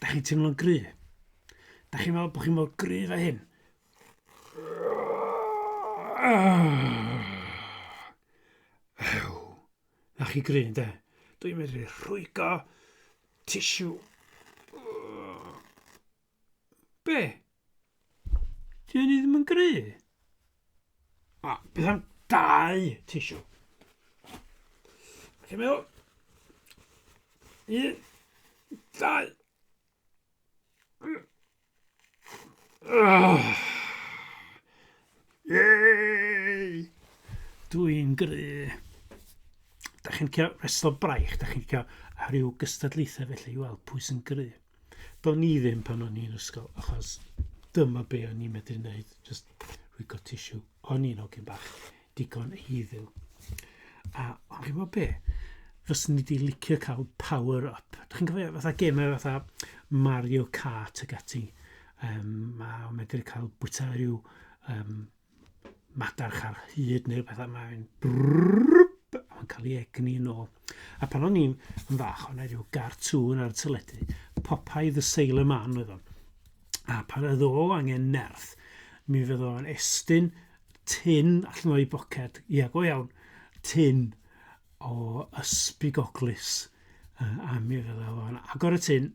Dach chi'n teimlo'n gry? Dach chi'n meddwl bod chi mor gry fe hyn? Ew. Na chi gry, de? Dwi'n medru rhwygo tissue. Be? Ti yn ddim yn gry? A, beth am dau tisio? Chi'n meddwl? Un, dau. Yay! Dwi'n gry. Da chi'n cael reslo braich, da chi'n cael rhyw gystadlaethau felly i weld pwy sy'n gry. Do'n i ddim pan o'n i'n ysgol, achos dyma be o'n i'n medru wneud, just rwygo tissue. O'n i'n hogyn bach, digon eiddiw. A o'n chi'n gwybod be? Fyswn ni wedi licio cael power up. Dych chi'n cofio fatha gemau fatha Mario Kart ac ati. Um, mae o'n medru cael bwyta rhyw um, madarch ar hyd neu rhywbeth a mae'n brrrrp, a mae'n cael ei egni yn ôl. A pan o'n i'n fach, o'n i rhyw gartŵn ar y tyledu, Popeye the Sailor Man oedd o'n. A pan oedd o angen nerth, mi fydd o'n estyn tin allan o'i boced, ia, go iawn, tin o ysbrigoglis. A mi fydd o'n agor y tin,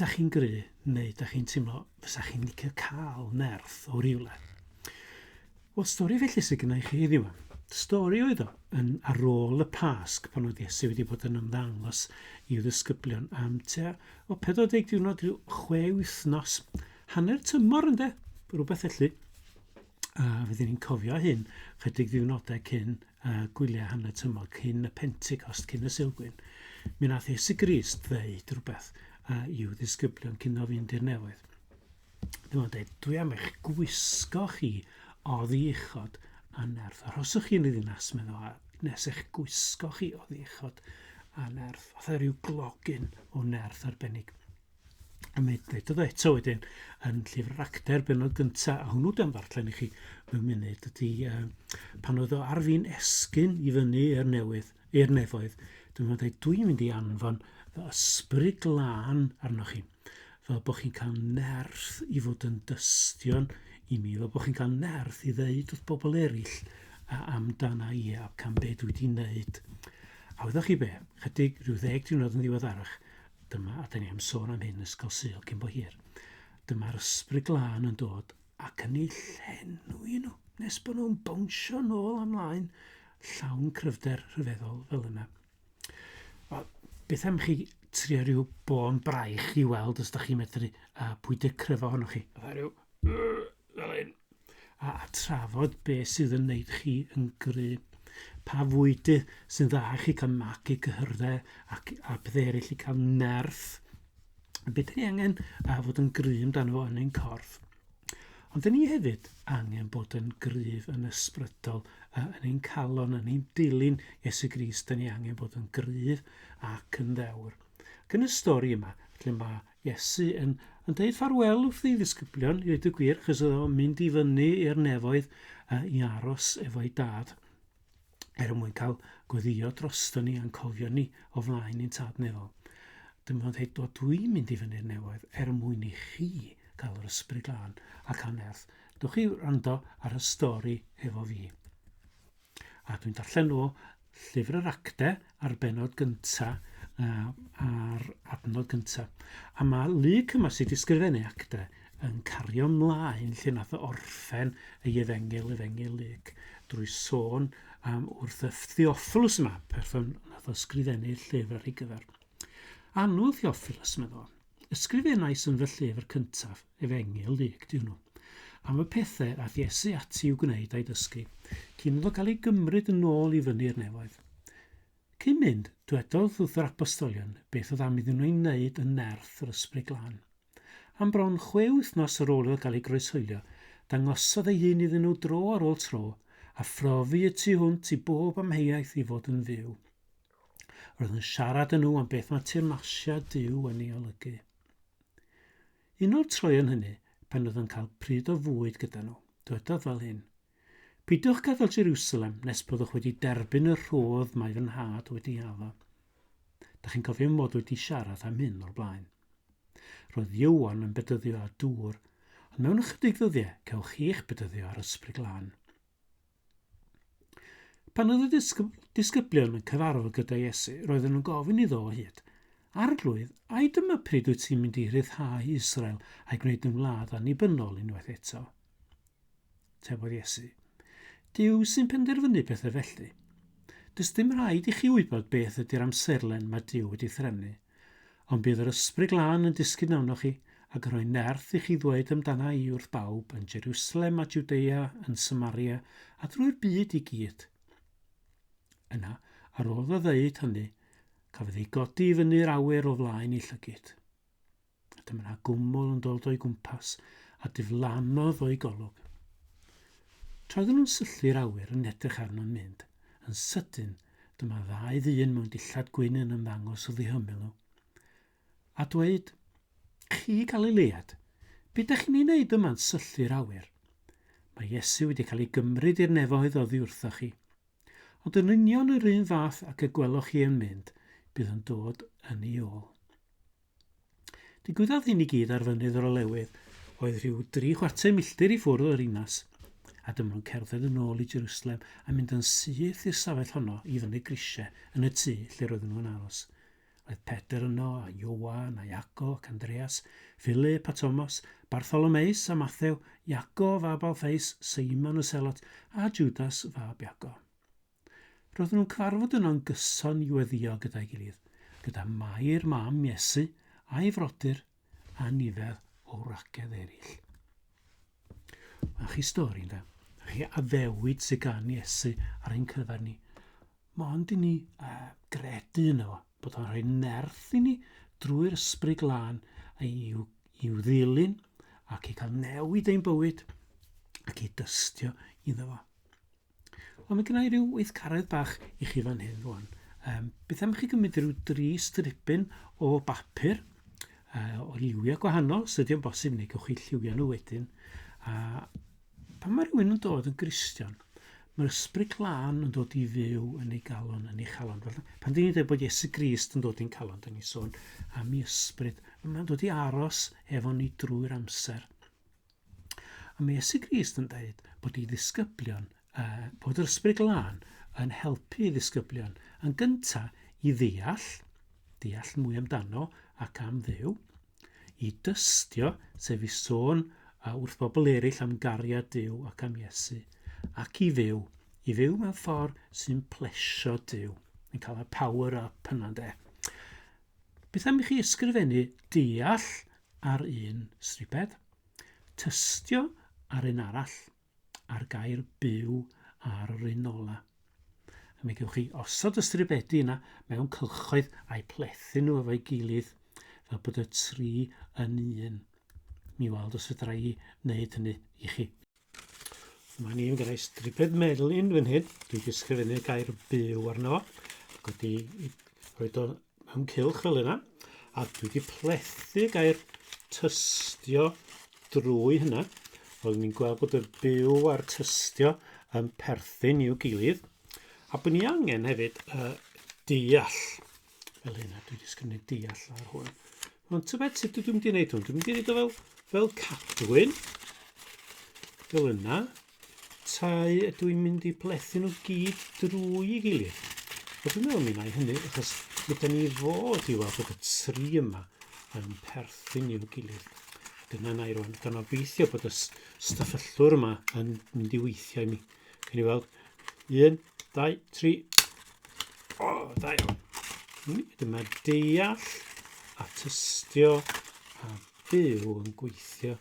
Ydach chi'n gry, neu ydach chi'n teimlo fysa chi'n licio cael nerth o rywle? Wel, stori felly sydd gynnau chi heddiw. Stori oedd o yn ar ôl y Pasg pan oedd Iesu wedi bod yn ymddangos i'w ddisgyblion am tua o 40 diwrnod rhyw chwe wythnos, hanner tymor ynde, rhywbeth felly. A fydden ni'n cofio hyn chydig ddiwrnodau cyn uh, gwyliau hanner tymor, cyn y Pentecost, cyn y Silgwyn. Mi nath Iesu Grist ddeud rhywbeth uh, i'w ddisgyblion cyn o fynd i'r newydd. Dyma'n dweud, dwi am eich gwisgo chi o ddiechod a nerth. Arhoswch chi'n y ddinas, meddwl, a nes eich gwisgo chi o ddiechod a nerth. Fatha rhyw glogyn o nerth arbennig. a mae dywedodd o eto wedyn yn llyfr yr actor benod gynta a hwnnw dan ddarllen i chi mewn munud ydy uh, pan oedd o ar fin esgyn i fyny i'r newydd i'r nefoedd dwi'n meddwl dwi'n mynd i anfon fy ysbryd glân arnoch chi fel bod chi'n cael nerth i fod yn dystion i mi fel bod chi'n cael nerth i ddeud wrth bobl eraill a amdana i a cam be dwi wedi wneud a wyddoch chi be chydig rhyw ddeg diwrnod yn ddiweddarach Dyma, a 'da ni am sôn am hyn, Ysgol Sul cyn bo hir. Dyma'r ysbryd glân yn dod ac yn ei llenwi nhw, nes bod nhw'n bownsio nôl am laen, llawn cryfder rhyfeddol fel yna. Wel, beth am chi trio rhyw bôn braich i weld os da chi'n medru uh, pwydio cryf ohonoch chi? Fydda rhyw... fel hyn, a trafod beth sydd yn wneud chi yn gry, pa fwyty sy'n dda i chi cael magu cyhyrddau ac a bethau eraill i cael nerth, beth ni angen a fod yn gry amdano fo yn ein corff. Ond dyn ni hefyd angen bod yn gryf yn ysbrydol yn ein calon, yn ein dilyn Iesu Gris, dyn ni angen bod yn gryf ac yn ddewr. Ac yn y stori yma, lle mae Iesu yn yn deud ffarwel wrth ei ddisgyblion, i ddweud y gwir, achos oedd o'n mynd i fyny i'r nefoedd uh, i aros efo'i dad, er mwyn cael gweddio drosto ni a'n cofio ni o flaen i'n tad nefol. Dyma o'n dweud, o dwi'n mynd i fyny'r nefoedd er mwyn i chi gael yr ysbryd glân ac anerth. Dwch i wrando ar y stori efo fi. A dwi'n darllen o llyfr yr acte a'r benod gynta uh, a'r adnod gynta. A mae Luke yma sydd wedi sgrifennu acte yn cario mlaen lle nath o orffen ei efengil, efengil Luke, drwy sôn am wrth y Theophilus yma, person nath o sgrifennu llyfr ar ei gyfer. Annwyl Theophilus, meddwl. Ysgrifenais yn fy llyfr cyntaf, Efengyl Luc, dyn nhw, am y pethau ath Iesu ati i'w gwneud a'i dysgu, cyn iddo gael ei gymryd yn ôl i fyny'r nefoedd. Cyn mynd, dwedodd wrth yr apostolion beth oedd am iddyn nhw ei wneud yn nerth yr Ysbryd Glân. Am bron chwe wythnos ar ôl iddo gael ei groeshoelio, dangosodd ei hun iddyn nhw dro ar ôl tro, a phrofi y tu hwnt i bob amheuaeth i fod yn fyw. Roedd yn siarad yn nhw am beth mae teyrnasiad Duw yn ei olygu. Un o'r troeon hynny, pan oedd yn cael pryd o fwyd gyda nhw, dywedodd fel hyn, Pidwch gadael Jerusalem nes byddwch wedi derbyn y rhodd mae fy nhad wedi addo. Da chi'n cofio mod wedi siarad am hyn o'r blaen. Roedd Iwan yn bedyddio ar dŵr, ond mewn ychydig ddyddiau cewch chi'ch bedyddio ar ysbryd glân. Pan oedd y disgyb disgyblion yn cyfarfod gyda Iesu, roedden nhw'n gofyn iddo o hyd, Arglwydd, ai dyma pryd wyt ti'n mynd i rhyddhau Israel a'i gwneud yn wlad annibynnol unwaith eto? Tebodd Iesu. Dyw sy'n penderfynu pethau felly. Does dim rhaid i chi wybod beth ydy'r amserlen mae Dyw wedi threfnu. Ond bydd yr Ysbryd Glân yn disgyn arnoch chi, ac yn rhoi nerth i chi ddweud amdana i wrth bawb, yn Jerusalem a Jwdea, yn Samaria, a drwy'r byd i gyd. Yna, ar ôl iddo ddeud hynny, cafodd ei godi i fyny'r awyr o flaen ei llygid. Dyma na gwmwl yn dod o'i gwmpas a diflannodd o'i golwg. Troedden nhw'n syllu'r awyr yn edrych arno'n mynd. Yn sydyn, dyma ddau ddyn mewn dillad gwyn yn ymddangos o ddihymyl nhw. A dweud, chi Galilead, beth da chi'n ei wneud yma'n syllu'r awyr? Mae Iesu wedi cael ei gymryd i'r nefoedd oddi wrthoch chi. Ond yn union yr un fath ac y gweloch chi yn mynd, bydd yn dod yn ei ôl. Digwyddodd hyn i gyd ar fynydd yr olewydd, oedd rhyw dri chwarter milltir i ffwrdd o'r inas, a dyma nhw'n cerdded yn ôl i Jerusalem a mynd yn syth i'r stafell honno i fyny grisiau yn y tŷ lle roedden nhw'n aros. Roedd Pedr yno, a Iowan, a Iago, ac Andreas, Philip a Thomas, Bartholomeus a Mathew, Iago fab Alfeus, Seimon y Selot, a Judas fab Iago. Roedden nhw'n cyfarfod yno'n gyson i weddio gyda'i gilydd, gyda Mair mam Iesu a'i frodyr a nifer o wragedd eraill. A chi stori, ynda? A chi addewid sydd gan Iesu ar ein cyfer ni. Mae ond i ni uh, gredu yno fo, bod o'n rhoi nerth i ni drwy'r ysbryd glân i'w, i'w ddilyn ac i cael newid ein bywyd ac i dystio iddo fo. Wel, mae gen i ryw weithgaredd bach i chi fan hyn rwan. Um, beth am chi gymryd rhyw dri stripyn o bapur uh, o lliwiau gwahanol, os ydy'n bosib, neu gewch chi lliwiau nhw wedyn. A pan mae rhywun yn dod yn gristion, mae'r ysbryd glân yn dod i fyw yn ei galon, yn ei chalon. Felly, pan dyn ni'n dweud bod Iesu Grist yn dod i'n calon, dyn ni'n sôn am ei ysbryd. Mae'n dod i aros efo ni drwy'r amser. A mae Iesu Grist yn dweud bod i ddisgyblion, uh, bod yr ysbryd glân yn helpu i ddisgyblion yn gynta i ddeall, deall mwy amdano ac am ddew, i dystio, sef i sôn uh, wrth bobl eraill am gariad Dyw ac am Iesu, ac i fyw, i fyw mewn ffordd sy'n plesio Dyw. Yn cael y power up yna, de. Beth am i chi ysgrifennu deall ar un striped, tystio ar un arall, a'r gair byw ar yr un ola. A mi gewch chi osod y stribedi yna mewn cylchoedd a'i plethu nhw efo'i gilydd fel bod y tri yn un. Mi weld os fedra i wneud hynny i chi. Mae ni'n gyda'i striped melin fan hyn. Dwi'n disgrifennu gair byw arno fo. Ac wedi rhoi o mewn cilch fel yna. A dwi wedi plethu gair tystio drwy hynna. Oedd ni'n gweld bod y byw a'r tystio yn perthyn i'w gilydd. A bod ni angen hefyd uh, deall Fel hyn, a dwi wedi sgynnu deall ar hwn. Ond tybed sut dwi'n mynd i wneud hwn? Dwi'n mynd i wneud o fel, fel cadwyn. Fel yna. Tai ydw i'n mynd i blethu nhw gyd drwy i gilydd. A dwi'n meddwl mi wna'i hynny, achos mi da ni fod i weld bod y tri yma yn perthyn i'w gilydd. Dyna na i rwan, gan obeithio bod y stafello'r yma yn mynd i weithiau mi. Cyn i weld. Un, dau, tri. O, oh, da iawn. Dyma deall a tystio a byw yn gweithio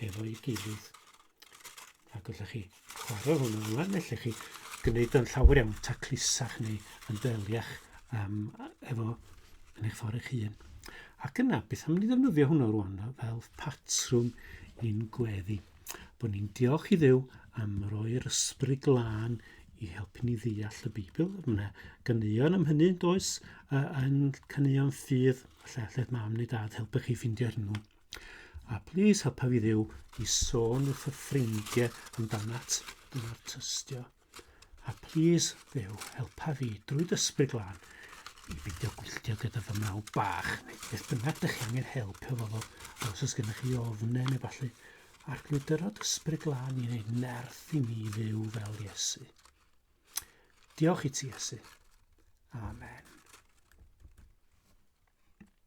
efo'i gilydd. A gyda chi chwarae hwnna ymlaen, felly chi gwneud yn llawer iawn taclusach neu yn deliach um, efo yn eich ffordd eich hun. Ac yna, beth am ni ddefnyddio hwnnw rwan fel patrwm i'n gweddi? bod ni'n diolch i ddew am roi'r ysbryd glân i helpu ni ddeall y Beibl. Mae yna ganeuon am hynny, does, uh, yn caneuon ffydd, lle allai'ch mam neu dad helpu chi ffeindio hwnnw. A plis helpa fi ddew i sôn wrth y ffrindiau amdanat yn artystio. A plîs, Dduw, helpa fi drwy dysbryd glân i beidio gwylltio gyda fy mrawd bach. Beth bynnag dych chi angen help efo fo, a os oes gennych chi ofnau neu falle, arglwydyr o dysbryd glân i wneud nerth i mi fyw fel Iesu. Diolch i ti, Iesu. Amen.